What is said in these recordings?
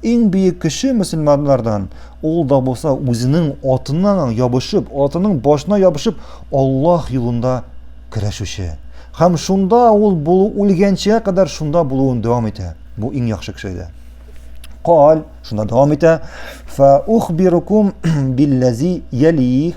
Иң бөек кеше мөселманнардан ул да булса үзенең атына ябышып, атының башына ябышып, Аллаһ юлында көрәшүче. Һәм шунда ул булу үлгәнчә кадәр шунда булуын дәвам итә. Бу иң яхшы кеше иде. Кал, шунда дәвам итә. Фа ухбирукум билләзи ялих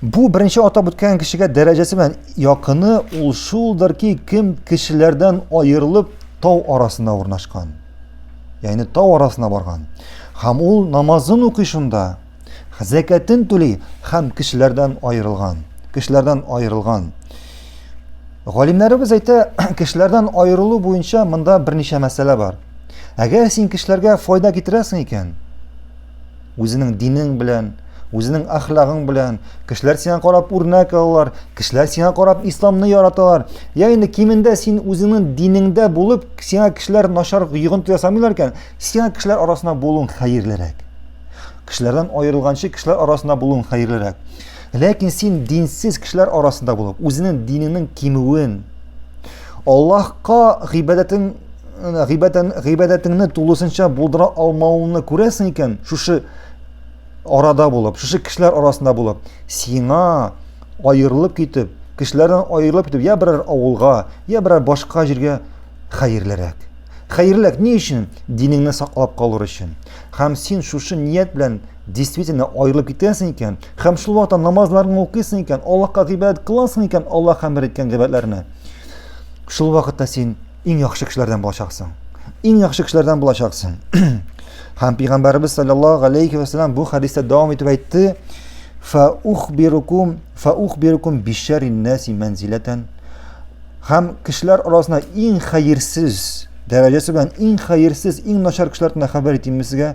Бу беренче атап үткән кешегә дәрәҗәсе белән якыны ул шулдыр ки, кем кешеләрдән аерылып тау арасына урнашкан. Ягъни тау арасына барган. Һәм ул намазын укый шунда, зәкәтен түли һәм кешеләрдән аерылган. Кешеләрдән аерылган. Галимнәребез әйтә, кешеләрдән аерылу буенча монда берничә мәсьәлә бар. Әгәр син кешеләргә файда китерәсең икән, Үзенең динең белән, үзенең әхлагың белән, кешеләр сиңа карап үрнәк алалар, кешеләр сиңа карап исламны яраталар. Я инде кимендә син үзеңнең динеңдә булып, сиңа кешеләр начар йогынты ясамыйлар икән, сиңа кешеләр арасында булуың хәерлерәк. Кешеләрдән аерылганчы кешеләр арасында булуың хәерлерәк. Ләкин син динсез кешеләр арасында булып, үзенең динеңнең кимүен, Аллаһка гыйбадәтең гыйбадән гыйбадәтеңне тулысынча булдыра алмавыңны күрәсең икән, шушы арада булып, шушы кешеләр арасында булып, сиңа аерылып китеп, кешеләрдән аерылып китеп, я берәр авылга, я берәр башка җиргә хәерлерәк. Хәерлерәк ни өчен? Динеңне саклап калыр өчен. Һәм син шушы ният белән действительно аерылып китәсең икән һәм шул вакытта намазларыңны укыйсың икән аллаһка гыйбадәт кыласың икән аллаһ әмер иткән гыйбадәтләрне шул вакытта син иң яхшы кешеләрдән булачаксың иң яхшы кешеләрдән булачаксың һәм пәйгамбәребез саллаллаху алейхи вассалам бу хәдистә дәвам итеп әйтте фаухбирукум фаухбирукум бишәриннаси мәнзиләтән һәм кешеләр арасында иң хәерсез дәрәҗәсе белән иң хәерсез иң начар кешеләрдән хәбәр итимме сезгә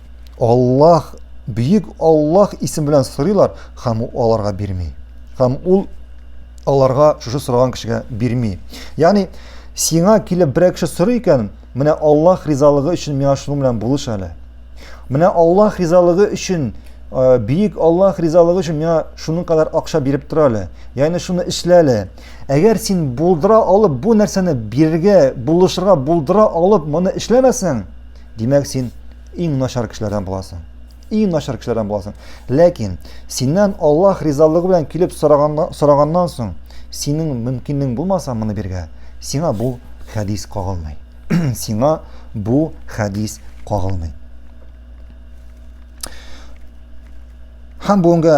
Аллаһ, бөек Аллаһ исеме белән сорыйлар һәм ул аларга бирми. Һәм ул аларга шушы сораган кешегә бирми. Ягъни, сиңа килеп берәр кеше сорый икән, менә Аллаһ ризалыгы өчен миңа шуның белән булыш әле. Менә Аллаһ ризалыгы өчен, э, бөек Аллаһ ризалыгы өчен миңа шуның кадәр акча биреп тора әле. Ягъни шуны эшлә әле. Әгәр син булдыра алып бу нәрсәне бирергә, булышырга булдыра алып моны эшләмәсәң, Димәк, син иң начар кешеләрдән буласың. Иң начар кешеләрдән буласың. Ләкин синнән Аллаһ ризалыгы белән килеп сораганнан, сораганнан соң, синең мөмкинлең булмаса моны биргә, сиңа бу хәдис кагылмый. сиңа бу хәдис кагылмый. Һәм бүгенге